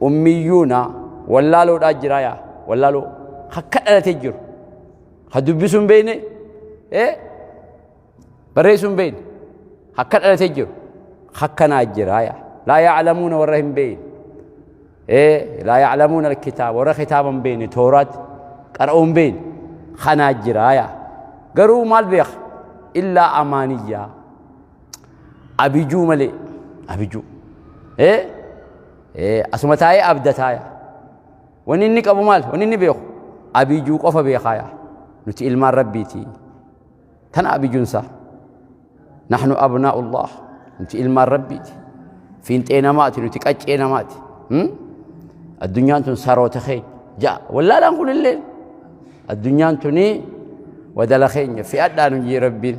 ummiyyuuna wallaaloodhaa jira yaa wallaaloo akka dhalatee jiru ha dubbisuu hin beekne ee barreessuu hin beekne akka dhalatee jiru akkanaa jira yaa laa yaaclamuuna warra hin beekne ee laa yaaclamuuna alkitaaba warra kitaaba hin beekne tooraatti qara'uu hin beekne kanaa jira yaa garuu maal beeka illaa amaaniyyaa abijuu malee abijuu ee ee asuma taa'ee abdataaya wanni inni qabu maal wanni inni beeku abijuu qofa beekaaya nuti ilmaan rabbiiti tana abijuunsaa nahnu abnaa'ullah nuti ilmaan rabbiiti fiinxee namaati nuti qaccee namaati addunyaan tun saroota keenya ja'a wallaalaan kunillee addunyaan tunii wadala keenya fi'adhaa nu jee rabbiin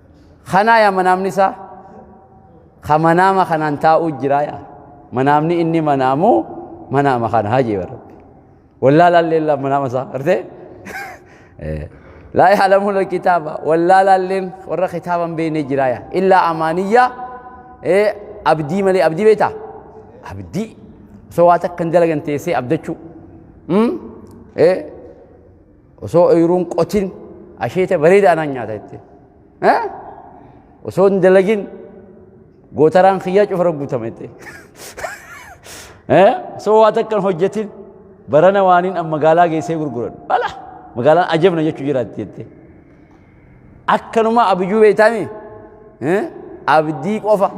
kanaa yaa manaamni isaa ka manaama kanaan taa'uu jiraa yaa manaamni inni manaamu manaama kana hajii barabbi wallaalaan leellaa manaama isaa artee laa yaalamuun kitaaba wallaalaan leen warra kitaaba hin beekne jiraa yaa illaa amaaniyyaa abdii malee abdii beektaa abdii osoo waa takka hin dalagan teessee abdachuu Osoo oyiruun qotin asheeta bareedaa naan nyaata jettee. Osoo hin dalagin gootaraan kiyyaa cufara guutama jettee. Osoo waa takka hin hojjetin barana waaniin an magaalaa geessee gurguran. Bala magaalaan ajabna jechuu jiraatti jettee. Akkanuma abijuu beektaami. Abdii qofa.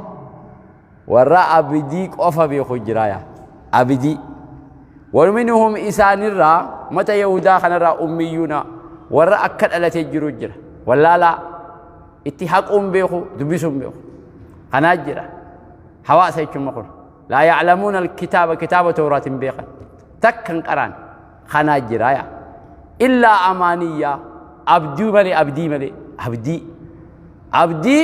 warra abidii qofa beeku jira yaa abidii waminhum isaanirraa mata yahudaa kanarraa ummiyyuuna warra akka dhalatee jiru jira wallaalaa itti haquun beeku dubbisuun beeku kanaa jira hawaasa jechuun kun laa ya'lamuuna alkitaaba kitaaba tooraat hin beekan takka hin qaraan kanaa jira yaa illaa amaaniyyaa abdii malee abdii malee abdii abdii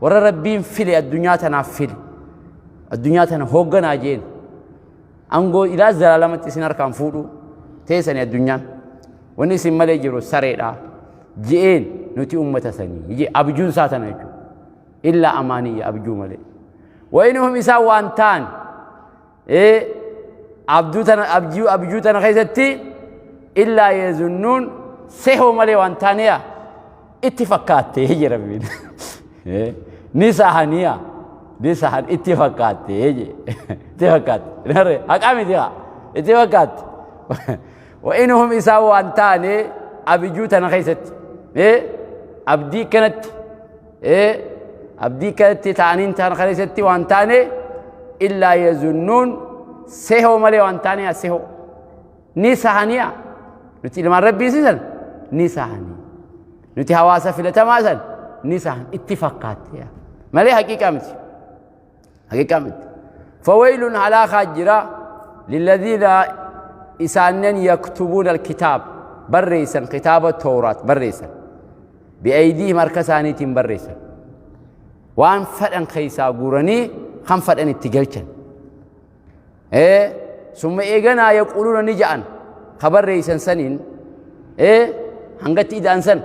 Warra Rabbiin file addunyaa tanaaf file. Addunyaa tana hoogganaa jeen. Angoo ilaa zalaalamatti isin harkaan fuudhu. Teessani addunyaan. Wanni isin malee jiru sareedha. Je'een nuti ummata sanii. Je abjuun isaa tana jechuudha. Illaa amaaniyya abjuu malee. Wayinuhum isaan waan ta'an. ee abjuu tana abjuu abjuu tana keessatti illaa yeezunnuun sehoo malee waan taaniya itti fakkaattee je rabbiin Ee, ni sahaniya ni sahan itti fakkaattee je itti fakkaatte Nare, haqaa miti haa itti fakkaatte wa'inuhum isaa waan taane abjuu tana keessatti Ee, abdii kanatti ee abdii kanatti ta'aniin ta'an kana isatti waan taane illaa yazunnuun sehoo malee waan taane yaa sehoo ni sahaniya nuti ilmaan rabbii sisan ni sahanii nuti hawaasa filatamaa san ni sahan itti fakkaatte malee haqiiqaa miti haqiqaa miti fawaylun halaakaa jira lilladhiina isaannen yaktubuuna alkitaab barreeysan kitaaba tooraat barreeysan bi'aydiihim harka isaaniitiin barreeysan waan fedhan keeysaa guuranii kan fedhan itti galchan ee summa eeganaa yaquuluuna ni ja'an ka barreeysan saniin ee hangatti ida'an san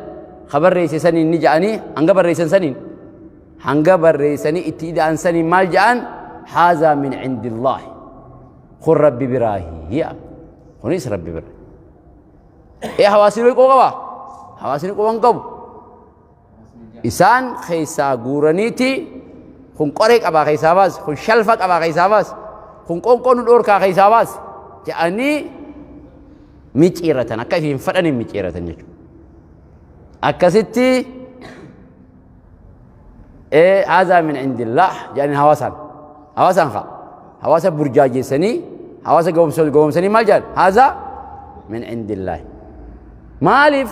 ka barreeyse saniin ni ja'anii hanga barreeysan saniin hanga barreeysanii itti ida'an saniin maal ja'an haazaa min cindillaahi kun rabbi biraahi hi'a kunis rabbi bira ee hawaasni qoo qaba hawaasni qoo hin qabu isaan keessaa guuraniiti kun qoree qabaa keessaa baasi kun shalfa qabaa keessaa baasi kun qoonqoo nu dhoorkaa keessaa baasi jedhanii micciiratan akka ifi hin fadhaniin micciiratan jechuudha. Akkasitti haazaa min indillah jedhanii hawaasaan hawaasaan kaa hawaasa burjaajeessanii hawaasa gowwomsanii maal jedhan haazaa min indillah maaliif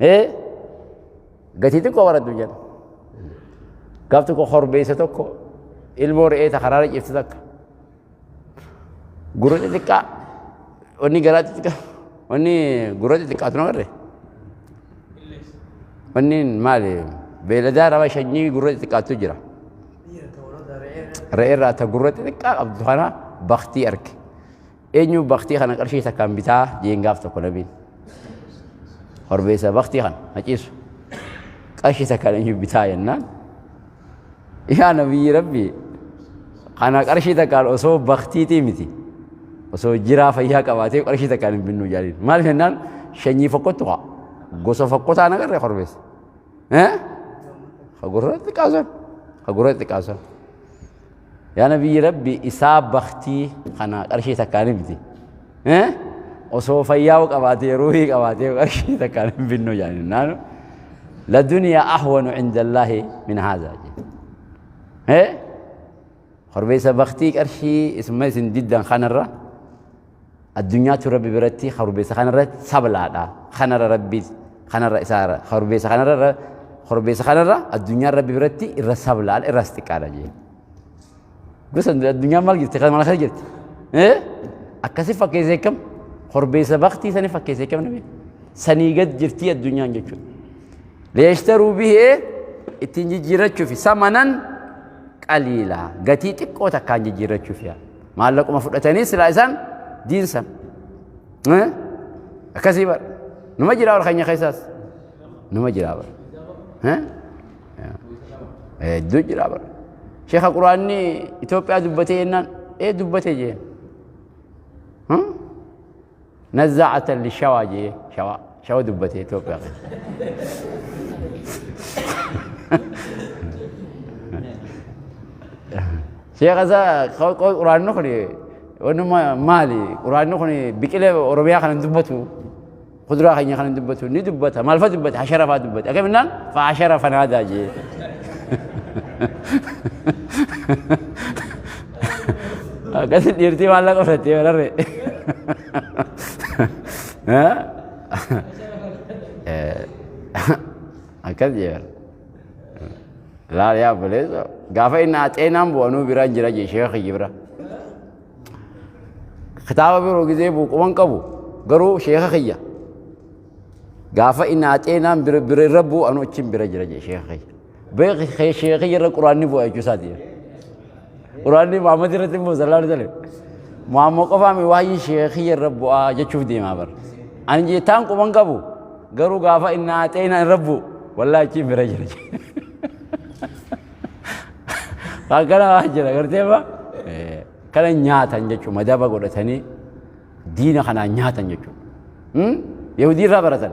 ee gatii xiqqoo baradhu jedha gaaf tokko korbeessa tokko ilmoo re'ee ta karaara cifte takka gurra xixiqqaa wanni garaa xixiqqaa wanni gurra xixiqqaatu nama irree wanni maali beeladaa nama shanyii gurra xixiqqaatu jira re'ee irraa ta gurra xixiqqaa qabdu kana baktii arge Eenyu baktii kana qarshii takkaan bitaa jeen gaaf tokko nabiin. Horbeessa baktii kana haciisu. Qarshii takkaan eenyu bitaa jennaan. Yaa nabiyyi rabbi kana qarshii takkaan osoo baktiitii miti. Osoo jiraa fayyaa qabaatee qarshii takkaan hin binnu jaaliin. Maal jennaan shanyii fokkottu haa. Gosa fokkotaa nagarree horbeessa. Eh? Hagurra xiqqaasan. Hagurra xiqqaasan. Yaa nabiyyi rabbi isaa baktii kana qarshii takkaan hin biti. Osoo fayyaa'u qabaatee ruuhii qabaatee qarshii takkaan hin binnu jedhanii naanu. La duniyaa ahwanu indallaahi min haazaa jedhe. Korbeessa baktii qarshii isuma isin diddan kanarra. Addunyaatu Rabbi biratti korbeessa kanarra sablaadha. Kanarra Rabbi kanarra isaarra korbeessa kanarra korbeessa kanarra addunyaan Rabbi biratti irra sablaadha irraas xiqqaadha jeen. Gosa addunyaan maal jirti kan mana kana jirti. Akkasi fakkeessee kam korbeessa baktii sani fakkeessee kam nabi sanii gad jirtii addunyaan jechuudha. Leeshtaruu bihee ittiin jijjiirrachuufi samanan qaliila gatii xiqqoo takkaan jijjiirrachuuf yaa. maallaquma fudhatanii silaa isaan diinsan akkasii bara numa jira ol keenya keessaas numa jira bara hedduu jira bara sheeka quraanni Itoophiyaa dubbatee jennaan ee dubbatee jeen Nazaa'atan li shawaa jee shawaa shawa dubbate Itoophiyaa keessa. Sheekha isaa quraanni kun wanuma maali quraanni kun biqilee Oromiyaa kana hin dubbatu kuduraa keenya kana hin dubbatu ni dubbata maalfa dubbata hashara fa'aa dubbata akkaminnaan fa'aa hashara fanaadaa jee. Akkasi dhiirtii maallaqa fudhattee bararre. Akkas jeera. Laal yaa buleessa. Gaafa inni haxeenaan bu'anuu bira hin jira jee sheekhi bira. Kitaaba biroo gizee buuquman qabu garuu sheekha kiyya. Gaafa inni haxeenaan bira irra bu'anuu achiin bira jira jee sheekha kiyya. Beeki kee sheekii irra quraanni bu'a jechuu isaati. Quraanni Muhammad irratti immoo sallallahu alaihi wasallam. Muhammad qofaa mi waayii sheekii irra bu'a jechuuf deemaa bara. Ani jeetaan quban qabu garuu gaafa inni haatee inni irra bu'u wallaahi achiin bira jira. Akkana waan jira gartee ba kana nyaatan jechuun madaba godhatanii diina kanaan nyaatan jechuun. Yahudii irraa baratan.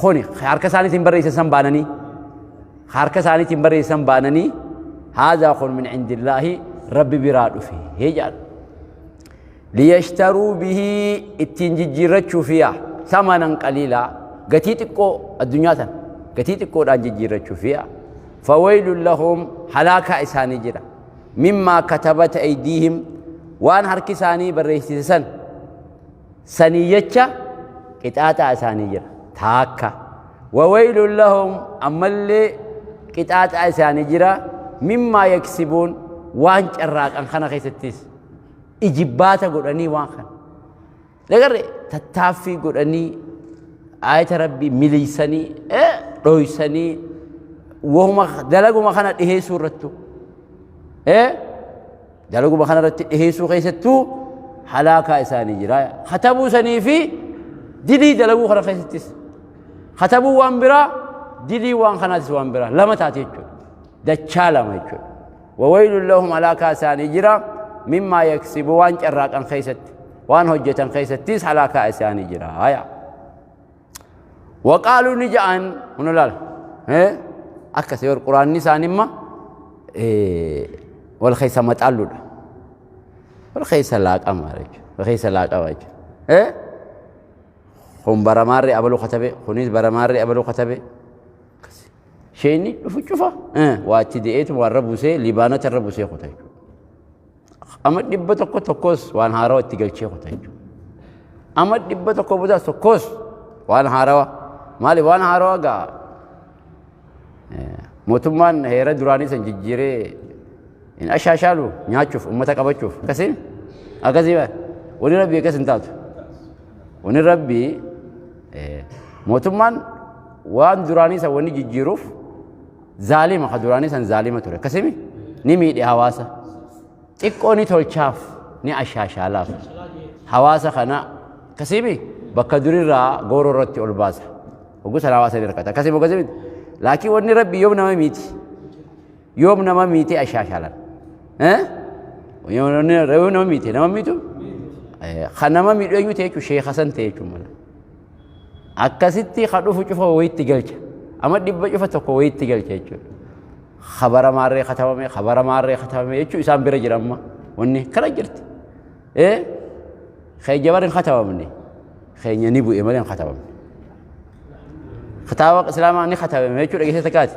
Kuni ka harka isaaniitiin barreessan san baananii ka harka isaaniitiin barreessan baananii haazaa kun min indillaahi rabbi biraa dhufe hee jedhan. Liyashtaruu bihii ittiin jijjiirrachuuf yaa samanan qaliilaa gatii xiqqoo addunyaa tan gatii xiqqoodhaan jijjiirrachuuf yaa fawaylun lahum halaakaa isaanii jira mimmaa katabata aydiihim waan harki isaanii barreessise san sanii jecha qixaaxaa isaanii jira taakka wawaylun lahum ammallee qixaaxaa isaanii jira mimmaa yaksibuun waan carraaqan kana keessattis ijibbaata godhanii waan kana lagarre tattaaffii godhanii aayata rabbii miliisanii dhoysanii wahuma dalaguma kana dhiheessuu irrattu Dalaguma kana irratti dhiheessuu keessattuu halaakaa isaanii jira. Katabuu sanii fi dilii dalaguu kana keessattis. Katabuu waan biraa, dilii waan kanaatis waan biraa. Lama taate jechuudha. Dachaa lama jechuudha. Wawayilun lahum halaakaa isaanii jira. Mimmaa yaksibu waan carraaqan keessatti. Waan hojjetan keessattis halaakaa isaanii jira. Hayaa. waqaaluu ni ja'an huna laal akkas yoo quraanni isaanii imma wal keessa maxaalluudha wal keessa laaqama jechuudha wal keessa laaqama jechuudha kun baramaarri abaluu katabe kunis baramaarri abaluu katabe sheenni dhufu cufa waachi de'eetu waan rabusee libaanota irra busee kuta jechuudha Amma dhibba tokko tokkos waan haarawa itti galchee kuta jechuudha. Amma dhibba tokko booda tokkos waan haarawa. Maali waan haarawa gaa mootummaan heera duraanii san jijjiiree hin ashaashaalu nyaachuuf uummata qabachuuf akkasii akkasii wani rabbii akkas hin taatu. Wani rabbii mootummaan waan duraanii san wani jijjiiruuf Zaalima ka duraanii san zaalima ture akkasimi ni miidhe hawaasa. Xiqqoo ni tolchaaf ni ashaashaalaaf. Hawaasa kana akkasimi bakka durirraa gooroo irratti ol baasa. Hogguu sana hawaasa ni rakkata akkasimi akkasimi. Laakiin wanni rabbi yoom nama miiti. Yoom nama miiti ashaashaalan. Yoom nama miiti nama miitu. Kan nama miidhu eenyu ta'e jechuun sheeka san ta'e jechuun mala. akkasitti ka dhufu cufa wayitti galcha ama dhibba cufa tokko wayitti galcha jechuudha kabara maarree katabame kabara maarree katabame jechuu isaan bira jira amma wanni kana jirti ee keenya bara hin katabamne keenya ni bu'e malee hin katabamne kitaaba islaamaa ni katabame jechuu dhageessee takkaati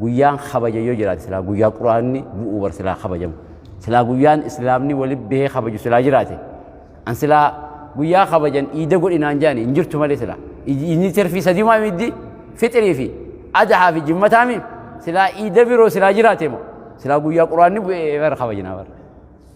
guyyaan kabaja yoo jiraate silaa guyyaa quraanni bu'uu bar silaa kabajamu silaa guyyaan islaamni wali bahee kabaju silaa jiraate an silaa guyyaa kabajan iida godhinaan jaani hin jirtu malee silaa inni terfii sadiimaa middi fixrii fi adahaa fi jimmataami silaa iida biroo silaa jiraate moo silaa guyyaa quraanni bu'ee bar kabajinaa bar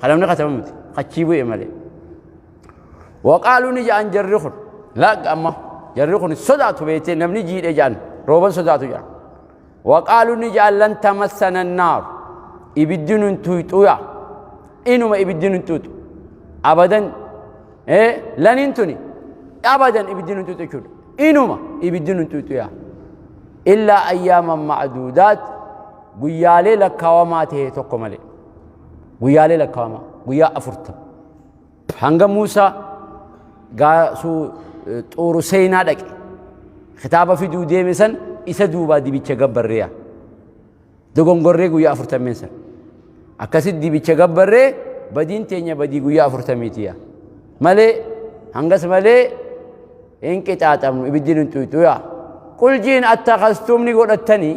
Kan namni katabu miti. Kachii bu'e malee. Waqaaluu ni ja'an jarri kun. Laagga amma jarri kun sodaatu beektee namni jiidhe ja'an rooban sodaatu ja'an. Waqaaluu ni ja'an lan tamassana naaru. Ibiddi nun tuyxuya. Inuma ibiddi nun tuyxu. Abadan ee laniin tuni abadan ibiddi nun tuyxu jechuudha. Inuma ibiddi nun tuyxuya. Illaa ayyaaman ma'aduudaat guyyaalee lakkaawamaa ta'e tokko malee. Guyyaalee lakkaa'ama. Guyyaa afurtama. Hanga Muusaa gaasuu xuuru seenaa dhaqe. Kitaaba fiduu deeme san isa duubaa dibicha gabbarreeya. Dogongorree guyyaa afurtameen san. Akkasitti dibicha gabbarree badiin teenya badii guyyaa afurtamiitiya. Malee hangas malee hin qixaaxamnu ibiddi hin xuyxuya. Qul jiin attakastumni godhattanii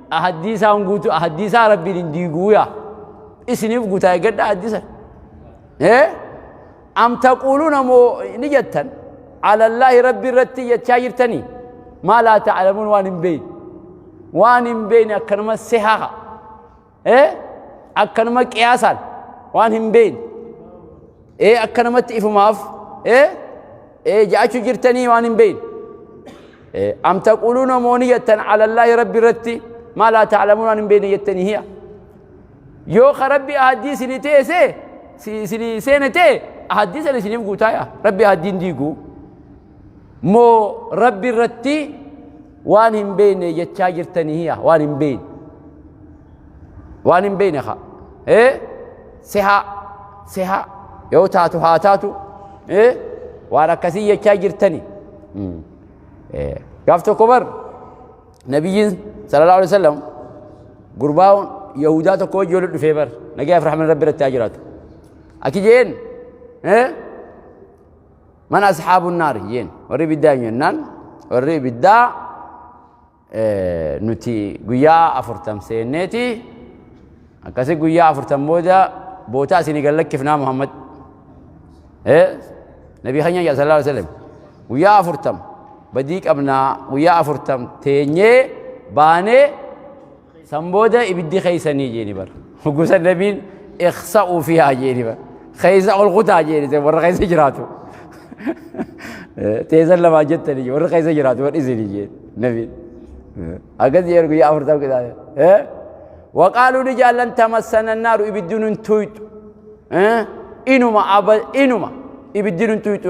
Ahaddii isaan guutuu ahaddii isaa rabbiin hin diiguu yaa isiniif guutaa eeggadha ahaddii sana. Ee am taquuluuna moo ni jettan alallaahi rabbi irratti jechaa jirtanii maa laa ta'lamuun waan hin beeyne waan hin beeyne akkanuma sehaa ee akkanuma qiyaasaan waan hin beeyne. ee akka namatti ifumaaf ee ee ja'achu jirtanii waan hin beeyne ee am taquuluuna moo ni jettan alallaahi rabbi irratti maa laa ta'lamuun waan hin beeyne jettanii hiya yoo ka rabbi ahaddii sini teese sini seene tee ahaddii sana isiniif guutaaya rabbi ahaddiin diiguu moo rabbi irratti waan hin beeyne jechaa jirtanii hiya waan hin beeyne waan hin beeyne ka ee sihaa sihaa yoo taatu haa taatu ee waan akkasii jechaa jirtani gaaf tokko bar nabiyyiin sallallahu alaihi wasallam gurbaa yahudaa tokko wajji walitti dhufee bar nagayaaf rahman rabbi irratti haa jiraatu akki jeen ee man asxaabuun naari jeen warri ibiddaa hin jennaan warri ibiddaa nuti guyyaa afurtam seenneeti akkasi guyyaa afurtam booda bootaa isinii gad lakkifnaa muhammad nabii keenya jedha sallallahu alaihi wasallam guyyaa afurtam badii qabnaa guyyaa afurtam teenyee baanee San booda ibiddi keeysanii jeeni bar. Hoggusan nabiin iksa'uu fi haa jeeni bar. Keeysa ol kutaa jeeni sen warra keeysa jiraatu. Teesan lamaa jettani jee warra keeysa jiraatu bar isini jeeni nabiin. Akkas jeeni guyyaa afurtam qixaale. Waqaaluu ni jaallan tamassana naaru ibiddi nun tuyxu. Inuma aba inuma ibiddi nun tuyxu.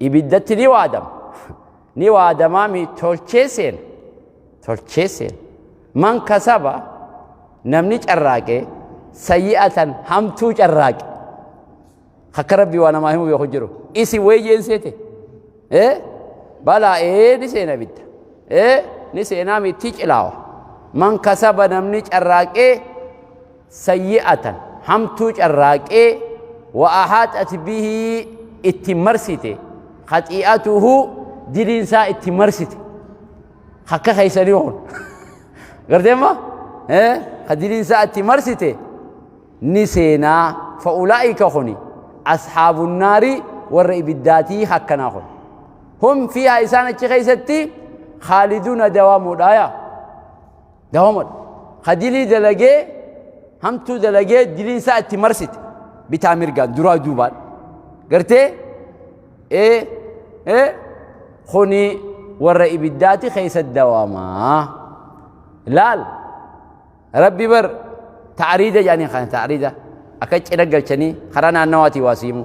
Ibiddatti ni waadama. Ni waadamaa mi tolchee seena. Tolchee seena. Man kasaba namni carraaqee sayyi'atan hamtuu carraaqe. Akka rabbi waa namaa himu beeku jiru. Isi weeyyeen seete. Eh? Balaa ee ni seena ibidda. Eh? Ni seenaa mitti cilaawa. Man kasaba namni carraaqee sayyi'atan, hamtuu carraaqee, wa ahaaxat bihi itti marsite, khaxii'atuhu diliin isaa itti marsite. Akka keessanii kun. Gartee amma? Ka diliin isaa itti marsite ni seenaa. Fa'ulaa'ika kuni ashaabun naari warra ibiddaatii akkanaa kun. Hum fiihaa isaan achi keessatti khaaliduuna dawaamuudhaaya. Gahomadha. Ka dilii dalagee, hamtuu dalagee diliin isaa itti marsite. Bitaa mirgaan, duraa duubaan. Gartee? Ee, ee, kuni warra ibiddaati keessa dawamaa. Laal, rabbi bar taariida jedhanii kana taariida. Akka cina galchanii karaa naannawaatii waa siimu.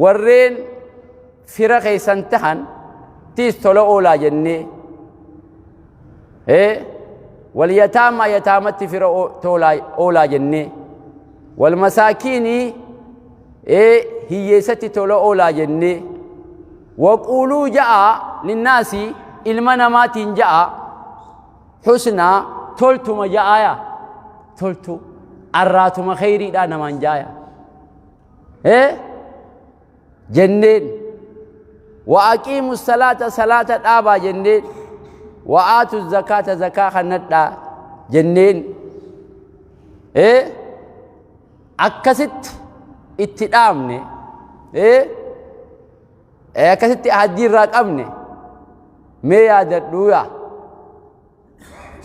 Warreen fira keessan tahan tiis tola oolaa jennee ee wal yataamaa yataamatti fira oo- toolaa- oolaa jennee wal masaakiinii ee hiyyeessatti tola oolaa jennee waquuluu ja'a linnaasi ilma namaatiin ja'a husnaa toltuma ja'aaya toltu arraatuma kheyriidhaa namaan jaaya ee jenneen wa aqiimu salaata salaata dhaabaa jenneen wa aatu zakaata zakaa kannadhaa jenneen ee akkasitti itti dhaamne ee akkasitti ahaddiirraa qabne mee yaadadhuuyaa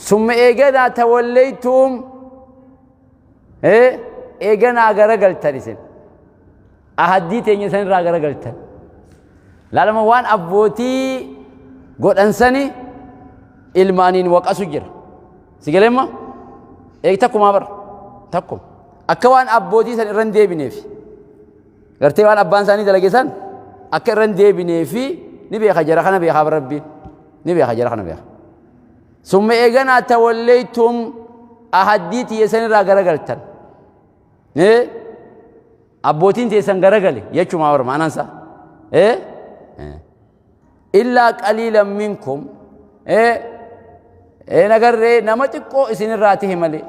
summa eeganaa tawallaytuum eeganaa garagaltan isin ahaddii teenya san irraa garagaltan laalama waan abbootii godhansani ilmaaniin waqasu jira si galeemma eeg takkumaa bara takkuma akka waan abbootii san irra hin deebineef gartee waan abbaan isaanii dalage san akka irra hin deebineef ni beeka jara kana beekaa bara rabbiin ni beeka jara kana beeka summa eeganaa tawallaytum ahaddii tiyya sanirraa garagaltan ee abbootiin teessan garagale jechumaa warra maanansa ee illaa qaliilan minkum ee ee nagarree nama xiqqoo isinirraa tahe malee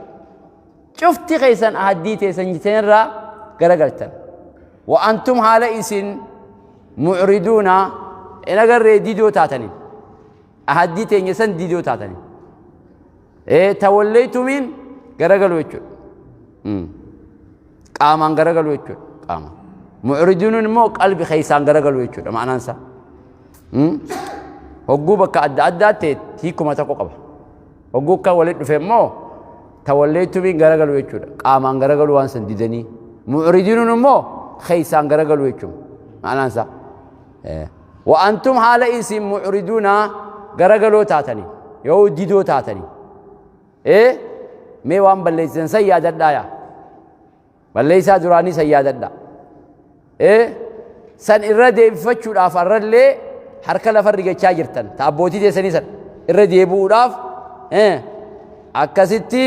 Cufti keessan ahaddii teessan jitenirraa garagaltan. Wa antum haala isin mu'riduuna hin agarree didoo taataniin. Ahaddii teenya san didoo taataniin. Ee tawalleeytumiin garagaluu jechuudha. Mm. Qaamaan garagaluu jechuudha. Qaamaan. Mu'riduunuun immoo qalbi keessaan garagaluu jechuudha ma'anaan isaa. Mm. Hogguu bakka adda addaa ta'e hiikuma tokko qaba. Hogguu kan walitti dhufe immoo tawalleettumiin garagalu jechuudha. Qaamaan garagalu waan san didanii. Mu'ridinuun immoo keessaan garagalu jechuudha. Maanaan isaa. Wa antum haala isin mu'riduuna garagaloo taatanii yoo didoo taatanii. Ee mee waan balleessisan san yaadadhaa yaa. Balleessaa duraanii san yaadadha. Ee san irra deebifachuudhaaf har'allee harka lafa rigachaa jirtan. Ta abbootii teessanii san irra deebi'uudhaaf ee akkasitti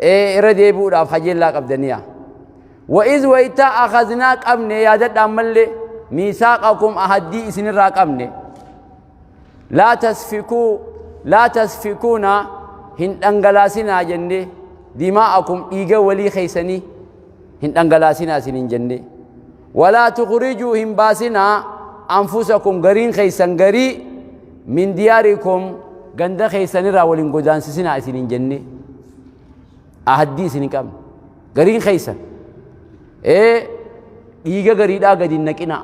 ee irra deebi'uudhaaf hajeellaa qabdaniya. Wa'iz waytaa akaznaa qabne yaadadha ammallee miisaaqakum ahaddii isinirraa qabne. laa tasfikuu laa tasfikuuna hin dhangalaasinaa jenne dimaa'akum dhiiga walii keeysanii hin dhangalaasinaa isin hin jenne walaa tukhrijuu hin baasinaa anfusakum gariin keeysan garii min diyaarikum ganda keeysanirraa wal hin godaansisinaa isin hin jenne ahaddii isin hin qabne gariin keeysan ee dhiiga gariidhaa gadi hin naqinaa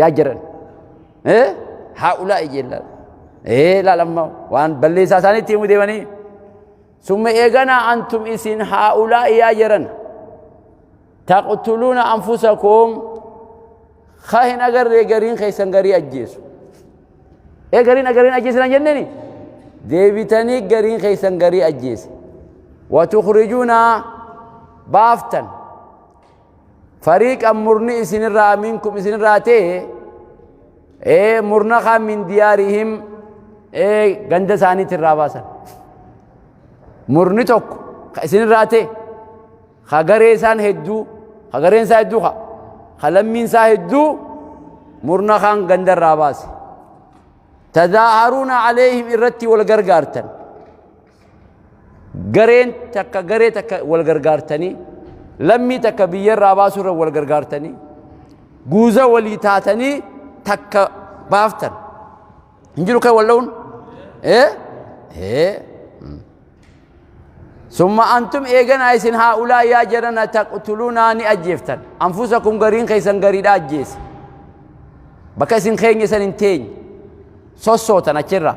yaa jiran ee haa ulaa ijeellaa ee laalamma waan balleessaa isaaniitti himuu deemanii summa eeganaa antum isin haa ulaa yaa jiran taqtuluuna anfusakum ka hin agarree gariin keessan garii ajjeesu ee gariin agariin ajjeesinan jenneni deebitanii gariin keessan garii ajjeese watukhrijuuna baaftan fariiqan murni isinirraa minkum isinirraa ta'e ee murna kaan min diyaarihim ee ganda isaaniitti irraa baasan murni tokko ka isinirraa ta'e ka garee isaan hedduu ka gareen isaa hedduu ka ka lammiin isaa hedduu murna kaan ganda irraa baase tadaaharuuna caleeyhim irratti wal gargaartan Gareen takka garee takka wal gargaartanii lammii takka biyya irraa baasuu irra wal gargaartanii guuza walii taatanii takka baaftan hin jiru kan wal dha'uun ee ee summa antum eeganaa isin haa ulaa yaa jarana taqtuluunaa ni ajjeeftan anfusakum gariin keessan gariidha ajjeese bakka isin keenya isan hin teenye sossootan achirraa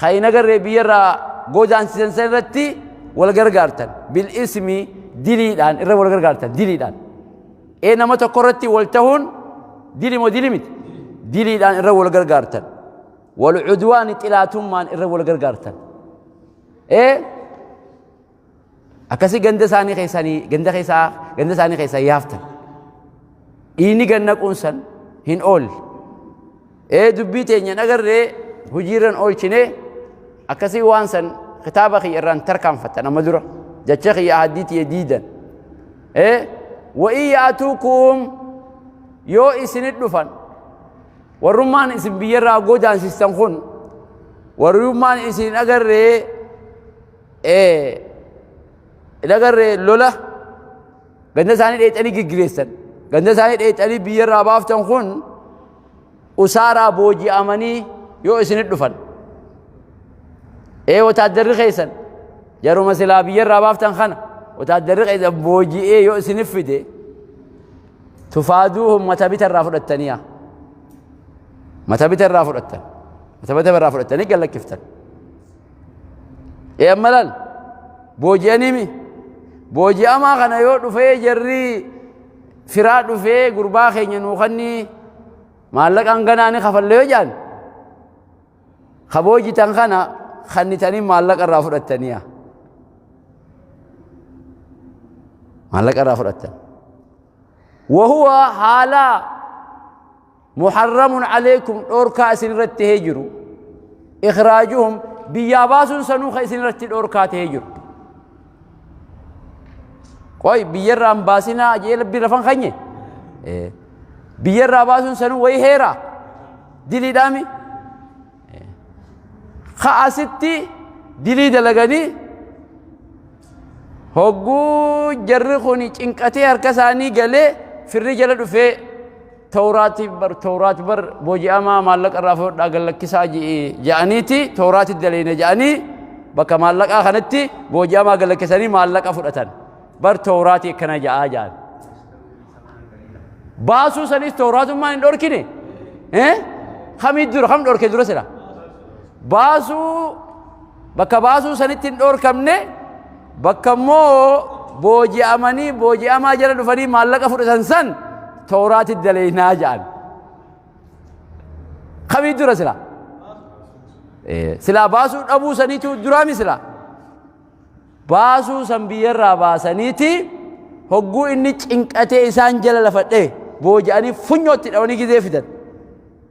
kan hin agarree biyyarraa godaansisan san irratti wal gargaartan bil ismi diliidhaan irra wal gargaartan diliidhaan ee nama tokko irratti wal tahuun dili moo dili miti diliidhaan irra wal gargaartan wal cudwaani xilaatummaan irra wal gargaartan ee Akkasii ganda isaanii keessanii ganda keessaa ganda isaanii keessaa yaaftan. Dhiini ganna quunsan hin oolle. Ee dubbii teenya nagarree hojiirran oolchine akkasii waan san kitaaba kiyya irraan tarkaanfattan amma dura jecha kiyya ahaddiitii diidan. Ee wa'ii yaatuukum yoo isinit dhufan warrummaan isin biyyarraa godaansistan kun warrummaan isin agarree hin agarre lola ganda isaanii dheexanii giggireessan ganda isaanii dheexanii biyyarraa baaftan kun usaaraa booji'amanii yoo isinit dhufan ee wataaddarri keessan jaruma silaa biyyarraa baaftan kana wataaddarri keessan booji'ee yoo isinif fide tufaaduuhum mata bita irraa fudhattaniya mata bita irraa fudhattan mata bita irraa fudhattanii gallakkiftan ee amma laal booji'aniimi booji'amaa kana yoo dhufee jarri firaa dhufee gurbaa keenya nuu kannii maallaqaan ganaa ni kafalle yoo jedhan ka boojitan kana kannitanii maallaqa irraa fudhattaniya maallaqa irraa fudhattan wahuwa haalaa muharramun alaykum dhorkaa isin irratti ta'ee jiru ikhraajuhum biyyaa baasuun sanuu kan isin irratti dhorkaa ta'ee jiru qoy biyyarraan baasinaa ajee labbii lafan kanye biyyarraa baasuun sanuu wayi heera diliidhaami ka asitti dilii dalaganii hogguu jarri kun cinqatee harka isaanii galee firri jala dhufee Tawraati bar tawraat bar booji'amaa maallaqa irraa fudhadhaa gad lakkisaa je'e ja'aniiti tawraati daleeyna ja'anii bakka maallaqaa kanatti booji'amaa gad lakkisanii maallaqa fudhatan bar tawraati akkana ja'aa ja'an. Baasuu sanis tawraatummaan hin dhorkine eh kamii dura kam dhorke dura sira baasuu bakka baasuu sanitti hin dhorkamne Bakka immoo booji'amanii booji'amaa jala dhufanii maallaqa fudhatan san tooraati daleeynaa ja'an. Kamii dura silaa? Silaa baasuu dhabuu saniitu duraami silaa? Baasuu san biyyarraa baasaniiti hogguu inni cinqatee isaan jala lafadhee booji'anii funyootti dhawanii gizee fidan.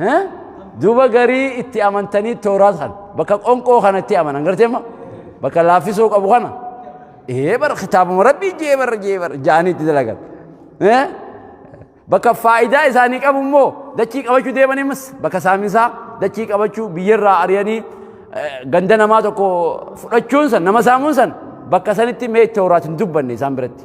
Eh? duba garii itti amantanii tooraat kan bakka qonqoo kana itti amanan garteema bakka laaffisoo qabu kana ee bara kitaabuma rabbii jee bara jee bara jaanii itti dalagan Eh? bakka faayidaa isaanii qabu immoo dachii qabachuu deemaniimas bakka saaminsaa dachii qabachuu biyyarraa ari'anii eh, ganda namaa tokko fudhachuun san nama saamuun san bakka sanitti mee tooraat hin dubbanne isaan biratti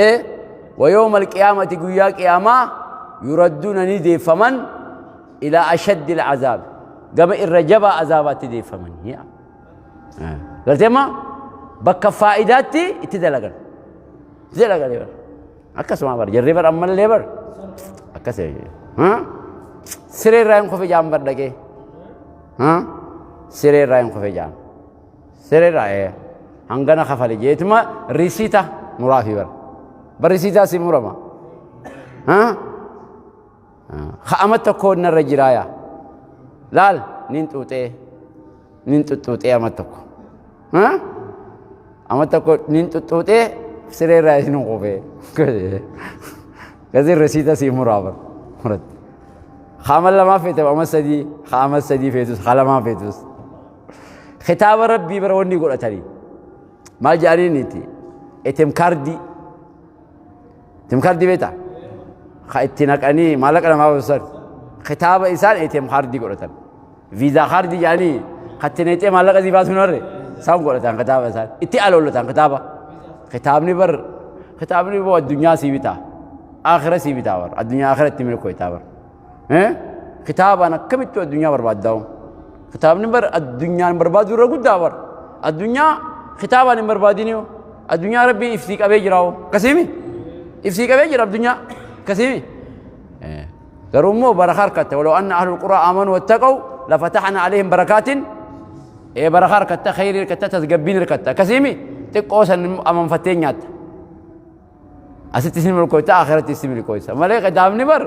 ee wayooma alqiyaamati guyyaa qiyaamaa yuradduuna ni deeffaman ilaa ashaddi alcazaabi gama irra jabaa azaabaatti deeffaman galteema bakka faayidaatti itti dalagan itti dalagan bar akkasuma bar jarri bar ammallee bar akkas siree irraa hin kufe jaan bar dhaqee siree irraa hin kufe jaan Sereera ee. Hangana kafali jeetuma risita muraafi bara. Bara risitaa si murama. Ha? Ka'ama tokko narra jiraaya. Laal nin xuuxee. Nin xuxxuuxee ama tokko. Ha? Ama tokko nin xuxxuuxee sireera isin qubee. Kasi risita si muraa bara. Muratti. Ka'ama lamaa feete ama sadii. Ka'ama sadii feetus. Ka'ama lamaa feetus. Kitaaba rabbii bara wanni godhatanii. Maal jedhaniin itti? Etem kaardii. Etem kaardii beektaa? Ka itti naqanii maallaqa namaa baasan. Kitaaba isaan etem kaardii godhatan. Viizaa kaardii jedhanii ka itti naqxee maallaqa sii baasuun harre. Isaan godhatan kitaaba isaan. Itti aloolatan kitaaba. Kitaabni bar kitaabni boo addunyaa sii bitaa. Aakhira sii bitaa bar. Addunyaa aakhira itti milkooytaa bar. Kitaabaan akkamitti addunyaa barbaaddaa'u? Kitaabni bar addunyaan barbaaduu irra guddaa bar. Addunyaa kitaabaan hin barbaadini hoo. Addunyaa rabbiin ibsii qabee jira hoo. Akkasiimi? Ibsii qabee jira addunyaa. Akkasiimi? Garuu immoo barakaa harkatte. Waloo anna ahlul quraa amanuu wattaqaw lafataxna alehim barakaatin ee barakaa harkatta khayrii harkatta tasgabbiin harkatta. Akkasiimi? Xiqqoo san amanfattee nyaatta. Asitti isin milkooyta akhiratti isin milkooysa. Malee kitaabni bar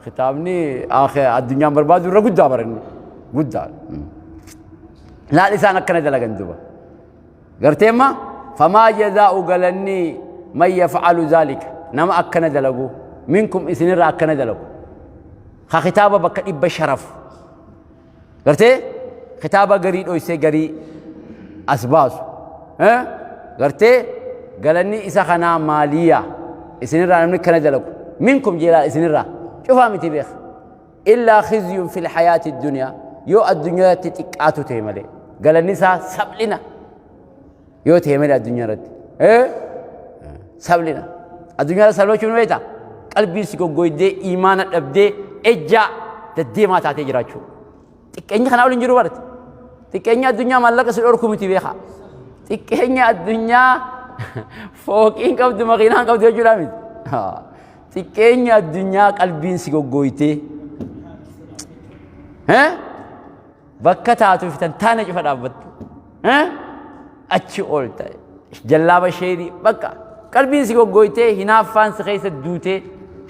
kitaabni addunyaan barbaadu irra guddaa bar inni guddaa. Laal isaan akkana dalagan duba. Gartee amma famaa jazaa'u galanni man yaf'alu zaalika nama akkana dalagu minkum isinirra akkana dalagu. Ka kitaaba bakka dhibba sharafu. gartee kitaaba garii dhoysee garii as baasu Eh? gartee galanni isa kanaa maaliya isinirraa namni kana dalagu minkum jeelaa isinirraa cufaa miti beeka illaa khizyun fil hayaati duniyaa yoo addunyaatti xiqqaatu ta'e malee galanni isaa saphlina Yoo ta'e malee addunyaa irratti. Eh? Sablina. Addunyaa irratti sablachuun ni beektaa? Qalbiin si goggoydee, imaana dhabdee, ejjaa deddeemaa taatee jiraachuu. Xiqqeenyi kanaa waliin jiru barate. Xiqqeenyi addunyaa maallaqa si dhorku miti beekaa. Xiqqeenyi addunyaa fooqiin qabdu makiinaan qabdu jechuudha miti. Haa. Xiqqeenyi addunyaa qalbiin si goggoytee. Eh? Bakka taatu fitan taana cufa dhaabbattu. Achi oolta. Jallaaba sheerii bakka qalbiin si goggooytee hinaaffaan si keessa duutee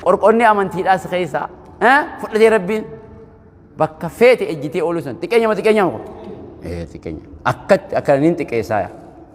qorqonni amantiidhaa si keessa fudhatee rabbiin bakka feete ejjitee ooluu san xiqqeenya ma xiqqeenya ma xiqqeenya akkatti akka nin xiqqeessaa yaa.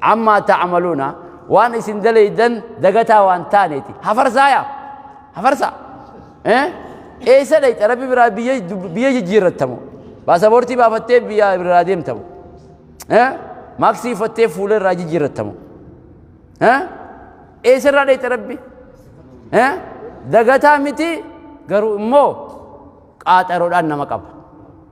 Ammaa ta'amaluuna waan isin dalaydan dagataa waan taaneeti. Hafarsaa yaa! Hafarsaa! Eh? Eessa dhayxa rabbi biraa biyya biyya jijjiirrattamu. Baasaboortii baafattee biyya biraa deemtamu. Eh? Maaksii uffattee fuula irraa jijjiirrattamu. Eh? Eessa irraa dhayxa rabbi? Eh? Dagataa miti garuu immoo qaaxaroodhaan nama qaba.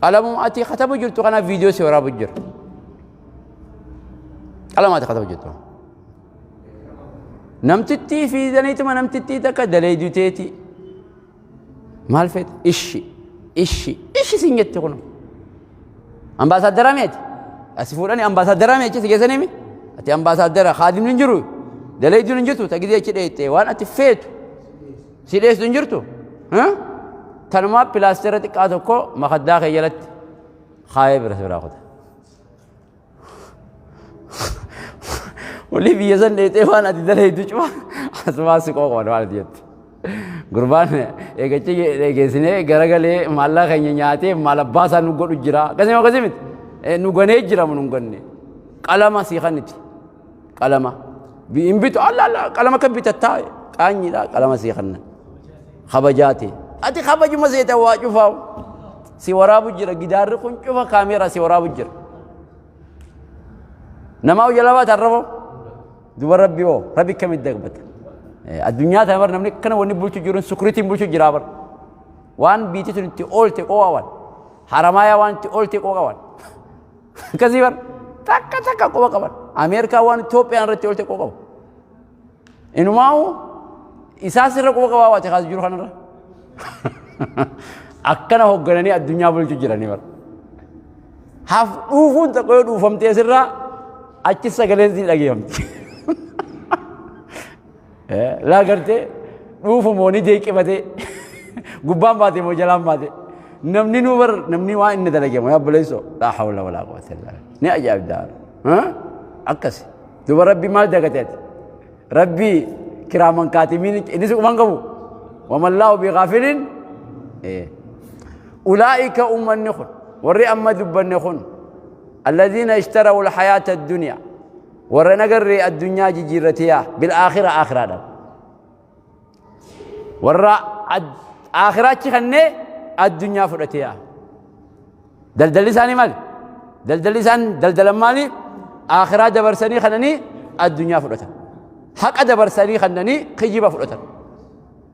Qalamuma ati katabu jirtu kana viidiyoo si waraabu jira. Qalama ati katabu jirtu. Namtittii fi zaniituma namtittii takka daleedu teeti. Maal feete? Ishi, ishi, ishi siin jette kun. Ambaasaaddara meeti? Asi fuudhani ambaasaaddara meechi si geessanii mi? Ati ambaasaaddara kaadimni hin jiru. Daleeduun hin jirtu tagidee achi dheettee waan ati feetu. Si dheessu hin jirtu? Tanumaa pilaastera xiqqaa tokko makaddaa kee jalatti kaayee bira biraa kuta. Olii biyya san dheexee waan ati dalaydu cuma asumaa si qooqoon waan ati jettu. Gurbaan eegachi eegeessinee garagalee maallaqa keenya nyaatee maal abbaa isaa nu godhu jira. Akkasii akkasii miti. Nu ganee jira nu ganne. Qalama sii kan itti. qalama bi- hin bitu alla alla qalama akka bitattaa qaanyiidha qalama sii kanna kabajaati ati kabajuma seeta waa cufaa si waraabu jira gidaarri kun cufa kaameera si waraabu jira namaa hojjala baata arraboo duba rabbi oo rabbi akkamitti dagbata Eh, addunyaa tana bar namni akkana wanni bulchu jiru sukuritiin bulchu jira bar waan biitii sun itti oolte qooqawan haramaayaa waan itti oolte qooqawan Akkasii bar takka takka quba qaban. Ameerikaa waan Itoophiyaan irratti oolte quba qabu. Inumaa'u isaas irra quba qabaa waate kaas jiru kanarra. Akkana hooggananii addunyaa bulchu jiranii bar. Haaf dhuufuun tokko yoo dhuufamtee sirraa achi sagaleen si dhageeffamti. Laa gartee dhuufu moo ni jeeqifatee gubbaan baate moo jalaan baate namni nuu bar namni waa inni dalage moo yaabboleesso laa hawla walaa quwwata illaa ni ajaa'ibdaa akkas duba rabbi maal dagatee ati rabbi kiraaman kaatimiin innis quban qabu wamallaahu bigaafilin ulaa'ika ummanni kun warri amma dubbanne kun alladhiina ishtarau alhayaata addunyaa warra hin agarree addunyaa jijjiirratee yaa bil aakhira aakhiraadhaan warra aakhiraachi kannee addunyaa fudhatee yaa daldalli isaanii maali daldalli isaan daldalan maali aakhiraa dabarsanii kannanii addunyaa fudhatan haqa dabarsanii kannanii kijjiba fudhatan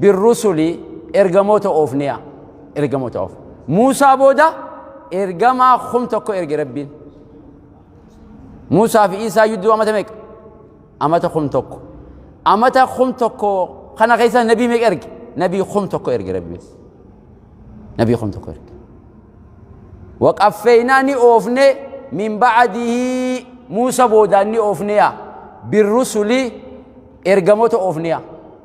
birrusuli ergamoota oofnee'a ergamoota oof muusaa booda ergamaa kum tokko erge rabbiin muusaa fi isaa yudduu amata meeqa amata kum tokko amata kum tokko kana keessa nabii meeqa erge nabii kum tokko erge rabbiin nabii kum tokko erge waqaffeeynaa ni oofne min ba'adihii muusa boodaan ni oofnee'a birrusuli ergamoota oofnee'a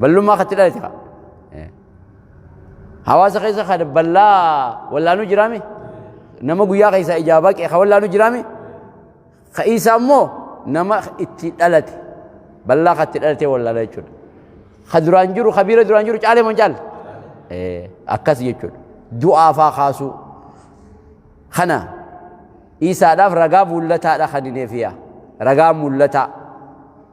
Ballummaa katti dhalate kaa. Hawaasa keessa kan ballaa wallaanuu jiraame nama guyyaa keessaa ijaa baqe kan wallaanuu jiraame ka isa immoo nama itti dhalate ballaa katti dhalatee wallaana jechuudha. Ka duraan jiru ka biira duraan jiru caalee moo hin caalle? Akkas jechuudha. Du'aa faa kaasuu. Kana isaadhaaf ragaa mul'ataadha kan hin eefiyaa. Ragaa mul'ataa.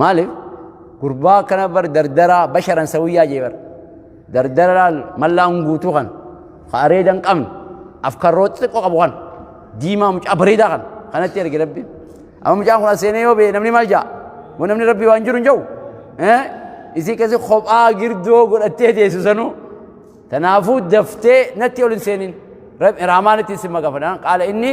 Maaliif? Gurbaa akkana bar dardaraa basharan sawiyyaa jee bar. Dardaraa mallaan guutuu kan ka areeda hin qabne afkarroo xiqqoo qabu kan diimaa mucaa bareedaa kan kanatti erge rabbiin. Amma mucaan kun as seenee yoo ba'e namni maal ja'a? Moo namni rabbii waan jiru hin jiru? Isii keessi kophaa girdoo godhattee teessu sanuu. Kanaafuu daftee natti ol hin seenin. Raamaan itti isin maqafanaan qaala inni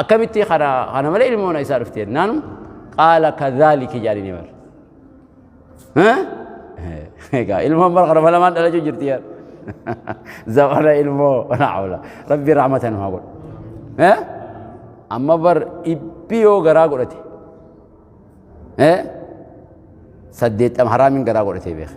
akkamitti kana kana malee ilmoon isaa dhufte jennaan qaala kadhaaliki jedhanii bar egaa ilmoon bara kana malamaan dhalachuu jirti yaa zamana ilmoo naawla rabbi rahmatan haa godhu amma bar dhibbi yoo garaa godhate saddeettam haraamin garaa godhatee beeka